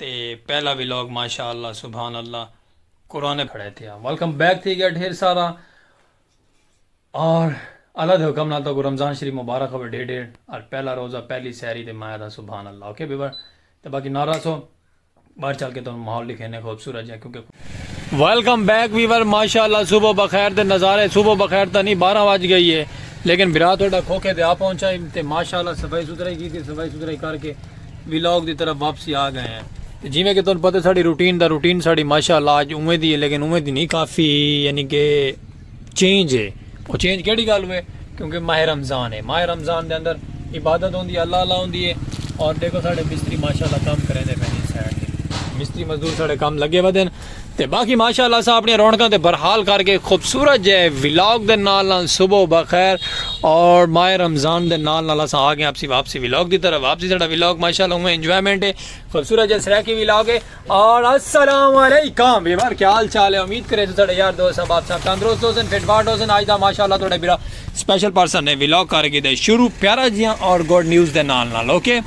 تے پہلا ولاگ ماشاء اللہ سبحان اللہ قرآن کھڑے تھیا ویلکم بیک تھی گیا ڈھیر سارا اور اللہ دے حکم نال تو کو رمضان شریف مبارک ہوے ڈھیر ڈھیر اور پہلا روزہ پہلی سحری تے مایا دا سبحان اللہ اوکے بیبر تے باقی نہ رسو باہر چل کے تو ماحول دکھینے خوبصورت جا کیونکہ ویلکم بیک ویور ماشاءاللہ صبح بخیر دے نظارے صبح بخیر تا نہیں بارہ واج گئی ہے لیکن بھرا تھوڑا کھوکھے دے آ پہنچا ہی تے ماشاءاللہ صفائی ستھرائی کی تھی صفائی ستھرائی کر کے ویلاگ دی طرف واپسی آ گئے ہیں جی میں کہ تم پتہ ساڑی روٹین دا روٹین ساڑی ماشاءاللہ آج اوے دی ہے لیکن اوے دی نہیں کافی یعنی کہ چینج ہے او چینج کیڑی گل ہوئے کیونکہ ماہ رمضان ہے ماہ رمضان دے اندر عبادت ہوندی ہے اللہ اللہ ہوندی ہے اور دیکھو ساڑھے مستری ماشاءاللہ کام کریں دے پہنے سائڈ دے مستری مزدور ساڑھے کام لگے ہوئے دن تے باقی ماشاءاللہ سا اپنی رونکاں تے برحال کر کے خوبصورت جے ولاگ دے نال نال صبح بخیر اور ماہ رمضان دے نال نال سا آگے آپ سی واپسی ولاگ دی طرف واپسی ساڑھا ولاگ ماشاءاللہ ہوئے انجوائمنٹ ہے خوبصورت جے سریکی ولاگ ہے اور السلام علیکم ویور کیا حال چال ہے امید کرے تو تھڑے یار دوست صاحب آپ صاحب تندرست ہو سن فٹ فاٹ ہو سن آج دا ماشاءاللہ تھڑے بیرا سپیشل پرسن نے ویلوگ کر کے دے شروع پیارا جیاں اور گوڈ نیوز دے نال نال اوکے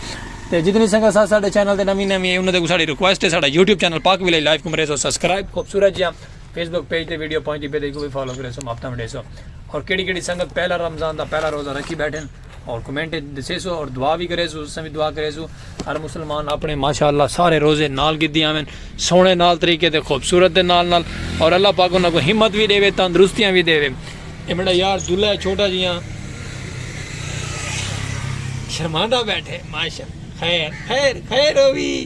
تے جتنی سنگا ساتھ ساڑھے چینل دے نمی نمی ہے انہوں دے کو ساڑھے ریکویسٹ ہے ساڑھا یوٹیوب چینل پاک ویلے لائف کمرے سو سبسکرائب خوبصورت جیاں فیس بک پیج دے ویڈیو پہنچ دی پہ دے کو بھی فالو کرے سو ماپتا مڈے سو اور کیڑی کیڑی سنگت پہلا رمضان دا پہلا روزہ رکھی بیٹھے ہیں اور کمنٹ اچ دسے سو اور دعا بھی کرے سو اساں بھی دعا کرے سو ہر مسلمان اپنے ماشاءاللہ سارے روزے نال گدی آویں سونے نال طریقے تے خوبصورت دے نال نال اور اللہ پاک انہاں کو ہمت بھی دے وے تندرستیاں بھی دے وے اے میرا یار دلہ ہے چھوٹا جیاں شرماندا بیٹھے ماشاءاللہ خیر خیر خیر ہوئی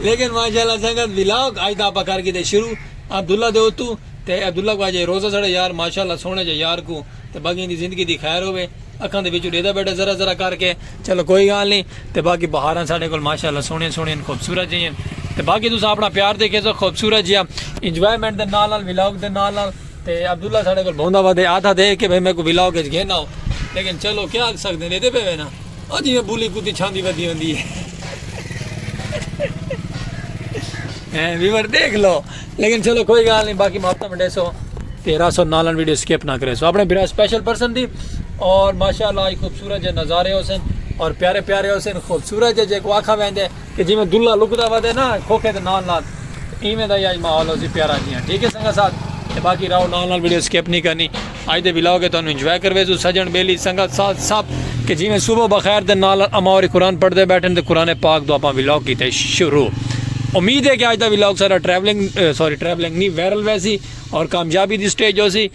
لیکن ماشاءاللہ سنگت ولاگ اج دا اپا کر کیتے شروع عبداللہ دے اتو تے عبداللہ کو اج اے روزہ ساڑے یار ماشاءاللہ سوہنے جے یار کو تے باقی ایندی زندگی دی خیر ہووے اکھاں دے وچوں ڈیدا بیٹھا ذرا ذرا کر کے چلو کوئی گال نی تے باقی بہاراں ساڈے کول ماشاءاللہ سوہنیاں سوہنیاں خوبصورت جیاں تے باقی تساں اپنا پیار تے کیسو خوبصورت جیاں انجوائمنٹ دے نال نال ولاگ دے نال نال تے عبداللہ ساڈے کول بہندا وا دے آدھا دے کے بھئی میکو ولاگ اچ گھن آؤ لیکن چلو کیا آکھ سکدے ڈیدے پے وے نا او جیویں بلی کتی چھاندی ودی ہوندی ہے اے ویور دیکھ لو لیکن چلو کوئی گال نہیں باقی محبت منڈے سو تیرا سو نالن ویڈیو سکپ نہ کرے سو اپنے برا سپیشل پرسن دی اور ماشاءاللہ خوبصورت جے نظارے ہو سن اور پیارے پیارے ہو سن خوبصورت جے جے کو آکھا ویندے کہ جیویں دلہا لکدا ودے نا کھوکھے دے نال نال ایویں دا ہی اج ماحول ہوسی پیارا جیاں ٹھیک ہے سنگت ساتھ تے باقی راہو نال نال ویڈیو سکپ نہیں کرنی اج دے ولاگ ہے تانوں انجوائے کرویسو سجن بیلی سنگت ساتھ سب کہ جیویں صبح بخیر دے نال نال اماں ہوری قرآن پڑھ دے بیٹھن تے قرآن پاک دو اپاں ولاگ کیتے شروع امید ہے کہ اج دا ولاگ سارا ٹریولنگ سوری ٹریولنگ نہیں وائرل ویسی اور کامیابی دی سٹیج ہوسی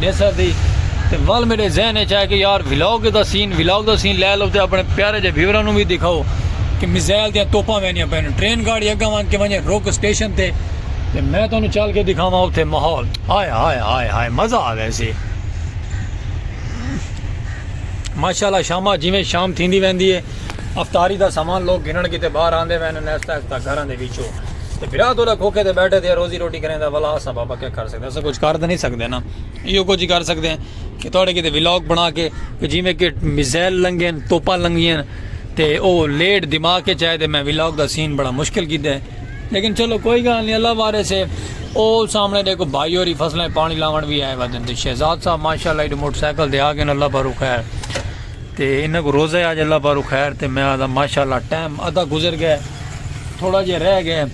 ڈیسا سی تے ول میڈے ذہن اچ آیا کہ یار ولاگ دا سین ولاگ دا سین لے لو تے اپنے پیارے جے ویوراں نوں وی دکھاؤ کہ میزائل دیاں توپاں ویندیاں پین ٹرین گاڑی اگاں ونج کے ونجے رک اسٹیشن تے تے میں تانوں چل کے دکھاواں اوتھے ماحول ہائے ہائے ہائے ہائے مزہ آ ویسی ماشاءاللہ شامہ جویں شام تھیندی ویندی ہے افطاری دا سامان لوگ گھنن کیتے باہر آندے وین نیستا ایستا گھراں دے وچوں تے بھرا توڑا کھوکھے تے بیٹھے تے روزی روٹی کریں دا ولا اساں بابا کیا کر سکتے اساں کجھ کر تاں نہیں سکدے نا ایہو کجھ ہی کر سکدے ہیں کہ تہاڈے کیتے ولاگ بنا کے کہ جیویں کہ میزائل لنگھے ہن توپاں لنگھیاں ہن تے او لیٹ دماغ وچ آئے تے میں ولاگ دا سین بڑا مشکل کیتا ہے لیکن چلو کوئی گال نہیں اللہ وارث ہے او سامنے ڈیکھو بھائی ہوری فصلاں پانی لاون وی آئے ودن تے شہزاد صاحب ماشاءاللہ ایڈو موٹر سائیکل تے آ گئے اللہ بھرو خیر تے انہاں کوں روزہ ہے آج اللہ پاروں خیر تے میں آہداں ماشاءاللہ ٹائم ادھا گزر گئے تھوڑا جیہا رہ گئے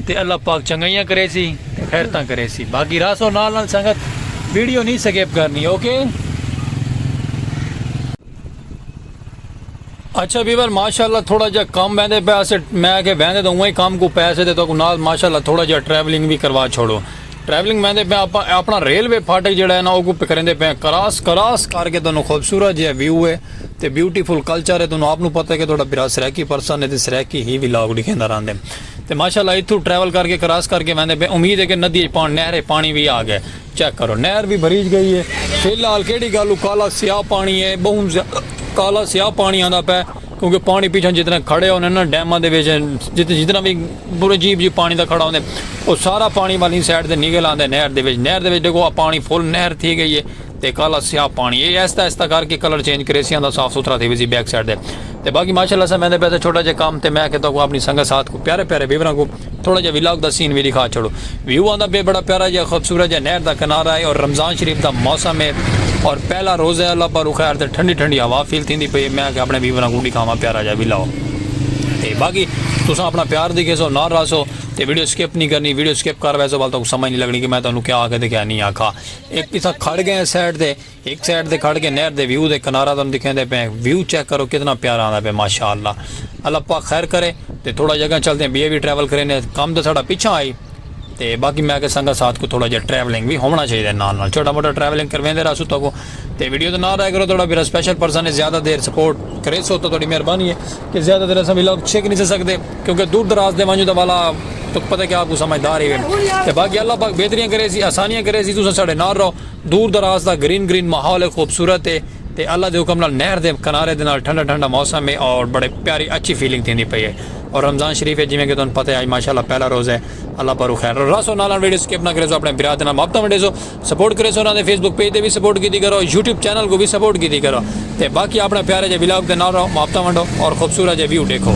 تے اللہ پاک چنگائیاں کرے سی تے خیرتاں کرے سی باقی راسو نال نال سنگت ویڈیو نہیں سکیپ کرنی اوکے اچھا بیور ماشاءاللہ تھوڑا جا کام ویندے پہ اسے میں کہ ویندے تو اوہ کام کو پیسے دے تو کو نال ماشاءاللہ تھوڑا جا ٹریولنگ بھی کروا چھوڑو ٹریولنگ ویندے پئے آپاں اپنا ریلوے پھاٹک جیڑا ہے نا اوکوں پکریندے پئے آں کراس کراس کر کے تانوں خوبصورت جیہا ویو ہے تے بیوٹیفل کلچر ہے تانوں آپ نوں پتہ ہے کہ تہاڈا بھرا سرائیکی پرسن ہے تے سرائیکی ہی ولاگ ڈکھیندا رہندے تے ماشاءاللہ ایتھوں ٹریول کر کے کراس کر کے ویندے پئے امید ہے کہ ندی اچ پان نہر اچ پانی وی آ گئے چیک کرو نہر وی بھریج گئی ہے فی الحال کیڑی گالوں کالا سیاہ پانی ہے بہوں زیادہ کالا سیاہ پانی آندا پئے۔ کیونکہ پانڑی پیچھوں جتنا کھڑے ہوندے ناں ڈیماں دے وچ جتنا وی پورے جیپ جیپ پانڑی دا کھڑا ہوندے او سارا پانڑی والی سائیڈ تے نکل آندے نہر دے وچ نہر دے وچ ڈیکھو پانڑی فل نہر تھی گئی ہے تے کالا سیاہ پانڑی اے آہستہ آہستہ کر کے کلر چینج کرے سی آندا صاف ستھرا تھی ویسی بیک سائیڈ تے تے باقی ماشاءاللہ سا میں دے پیسے چھوٹا جے کام تے میں کہ تو کو اپنی سنگت ساتھ کو پیارے پیارے ویوراں کو تھوڑا جیہا ولاگ دا سین وی ڈکھا چھوڑو۔ ویو آندا پئے بڑا پیارا جیہا خوبصورت جیہا نہر دا کنارہ ہے اور رمضان شریف دا موسم ہے اور پہلا روزہ ہے اللہ پاک رو خیر تے ٹھنڈی ٹھنڈی ہوا فیل تھیندی پئی ہے میں آکھیا اپنے ویوراں کوں ڈکھاواں پیارا جیہا ولاگ تے باقی تساں اپنا پیار دکھیسو نال رہسو تے ویڈیو سکپ نہیں کرنی ویڈیو سکپ کر ویسو ول تاکوں سمجھ نہیں لگنی کہ میں تانوں کیا آکھیا تے کیا نہیں آکھا ایک تساں کھڑ گئے سائیڈ تے ہک سائیڈ تے کھڑ کے نہر دے ویو دے کنارہ تانوں ڈکھیندے پئے ہیں ویو چیک کرو کتنا پیارا آندا پئے ماشاءاللہ اللہ پاک خیر کرے تے تھوڑا جیہا اگاں چلدے ہیں بیا وی ٹریول کریندے ہیں کم تے ساڈا پچھاں ہئی تے باقی میں آکھیا سنگت ساتھ کو تھوڑا جیہا ٹریولنگ وی ہوونا چاہیدا ہے نال نال چھوٹا موٹا ٹریولنگ کرویندے رہسوں تہاکوں تے ویڈیو دے نال رہیا کرو تہاڈا میرا سپیشل پرسن ہے زیادہ دیر سپورٹ کریسو تاں تہاڈی مہربانی ہے کہ زیادہ دیر اساں ولاگ چھک نی سے سکدے کیونکہ دور دراز دے ونجوں تاں والا تہاکوں پتہ ہے کہ آپ کو سمجھدار ہیوے تے باقی اللہ پاک بہتریاں کریسی آسانیاں کریسی تساں ساڈے نال رہو دور دراز دا گرین گرین ماحول ہے خوبصورت ہے تے اللہ دے حکم نال نہر دے کنارے دے نال ٹھنڈا ٹھنڈا موسم ہے اور بڑے پیاری اچھی فیلنگ تھیندی پئی ہے اور رمضان شریف ہے جیویں کہ تہاݙوں پتہ ہے اڄ ماشاءاللہ پہلا روزہ ہے اللہ پاروں خیر رو رس ہو نال نال ویڈیو سکپ نہ کریسو اپݨے بھرا دے نال محبتاں ونڈیسو سپورٹ کریسو انہاں دے فیس بک پیج تے وی سپورٹ کیتی کرو یوٹیوب چینل کوں وی سپورٹ کیتی کرو۔ تے باقی اپݨے پیارے جے ولاگ دے نال رہو محبتاں ونڈو اور خوبصورت جے ویو ڈیکھو۔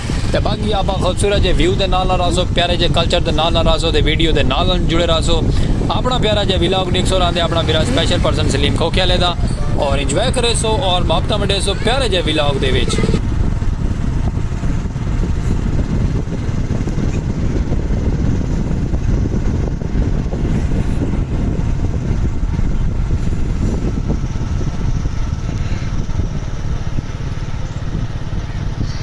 تے باقی آپا خوبصورت جے ویو دے نال نال رہسو پیارے جے کلچر دے نال نال رہسو تے ویڈیو دے نال نال جڑے رہسو اپنا پیارا جے ولاگ ڈیکھسو راندے اپنا میرا سپیشل پرسن سلیم کھوکھے والے دا اور انجوائے کریسو اور محبتاں ونڈیسو پیارے جے ولاگ دے وچ۔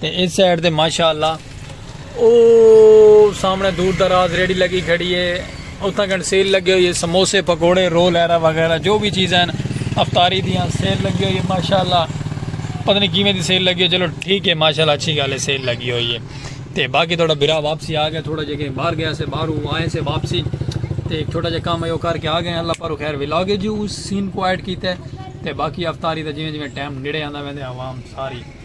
تے اس سائیڈ تے ماشاء اللہ او سامنے دور دراز ریڑھی لگی کھڑی ہے اتھاں کن سیل لگی ہوئی ہے سموسے پکوڑے رول ایرا وغیرہ جو بھی چیزیں ہیں افطاری دیاں سیل لگی ہوئی ہے ماشاء اللہ پتہ نہیں کیویں دی سیل لگی ہے چلو ٹھیک ہے ماشاء اللہ اچھی گل ہے سیل لگی ہوئی ہے تے باقی تھوڑا برا واپسی آ گیا تھوڑا جگہ باہر گیا سے باہر ہوں آئے سے واپسی تے ایک چھوٹا جا کام ہے وہ کر کے آ گئے اللہ پر خیر ولاگ ہے جی اس سین کو ایڈ کیتا ہے تے باقی افطاری دا جویں جویں ٹائم نڑے آندا ویندے عوام ساری